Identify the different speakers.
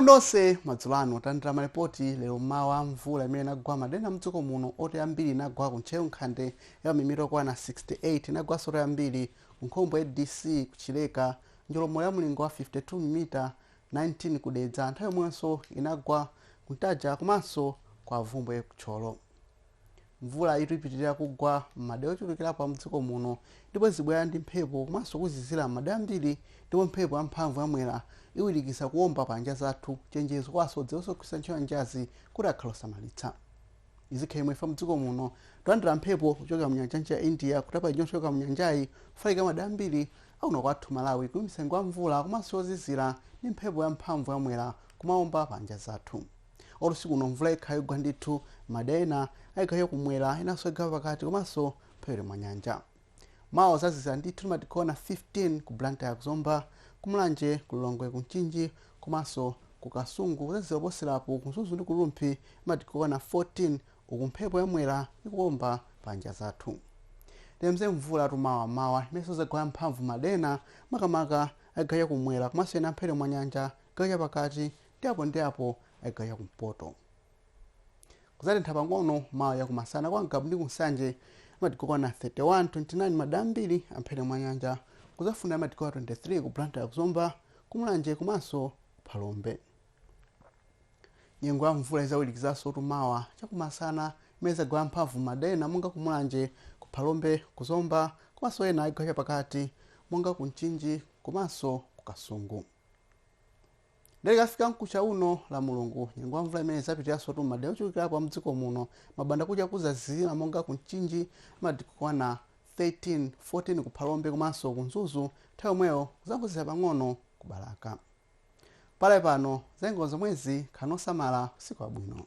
Speaker 1: nonse madzulo ano talandira malipoti lero mmawa mvula imene inagwa madera amdziko muno yochuluka inagwa ku ntcheu nkhande ya mamilimita yokwana 68 inagwanso yochuluka ku nkhombe ya dc kuchileka njolomo ya mlingo wa 52 mamilimita 19 kudedza nthawi yomwenso inagwa kuntaja komanso ku bvumbwe kuthyolo Mvula yitu ipitilira kugwa m'madera ochulukirapo a mdziko muno ndipo izibwera ndi mphepo komanso kuzizira m'madera ambiri ndipo mphepo ya mphamvu ya Mwera iwirikiza kuwomba pa nyanja zathu. Chenjezo kwa asodzi ndi onse ogwiritsa ntchito nyanjazi kuti akhale osamalitsa. Izi zikhala chomwechi kamba mdziko muno tikulandira mphepo kuchokera mu nyanja ya India kutapa ija yochoka mu nyanjayi kufalikira madera ambiri a kuno kwathu Malawi kuyambitsa nyengo ya mvula komanso yozizira ndi mphepo ya mphamvu ya Mwera kumawomba pa nyanja zathu. usiku uno mvula ikhala yogwa ndithu madera ena achigawo chakumwera enanso achigawo chapakati komanso mphepete mwa nyanja mawa kuzazizira ndithu ndi madigiri okwana 15 ku blantyre kuzomba kumulanje kulilongwe kumchinji komanso ku kasungu kuzazizira kuposerapo kumzuzu ndi kurumphi ndi madigiri okwana 14 uku mphepo yamwera ikuomba pa nyanja zathu nyengo ya mvula mawa mmawa imenso izagwa ya mphamvu madera makamaka achigawo cha kumwera komanso ena mphepete mwa nyanja chigawo cha pakati ndi apo ndi apo chigawo cha kumpoto kuzatentha pang'ono mawa cha kumasana kwa ngabu ndi kunsanje madigiri okwana 31 29 madera ambiri amphepete mwa nyanja kuzafunda madigiri okwana 23 ku blantyre kuzomba kumulanje komanso phalombe nyengo ya mvula izawirikizaso mawa chakumasana imene izagwa mphamvu madera monga kumulanje ku phalombe kuzomba komanso ena achigawo chapakati monga ku mchinji komanso ku kasungu Nde tikafika mkucha uno lamulungu nyengo ya mvula imene izapitiranso mmadera ochulukirapo a mdziko muno mbandakucha kuzazizira monga ku mchinji madigiri okwana 13 14 ku phalombe komanso ku mzuzu nthawi yomweyo kuzangozizira pang'ono ku balaka pakali pano zanyengo zomwezi khalani osamala usiku wabwino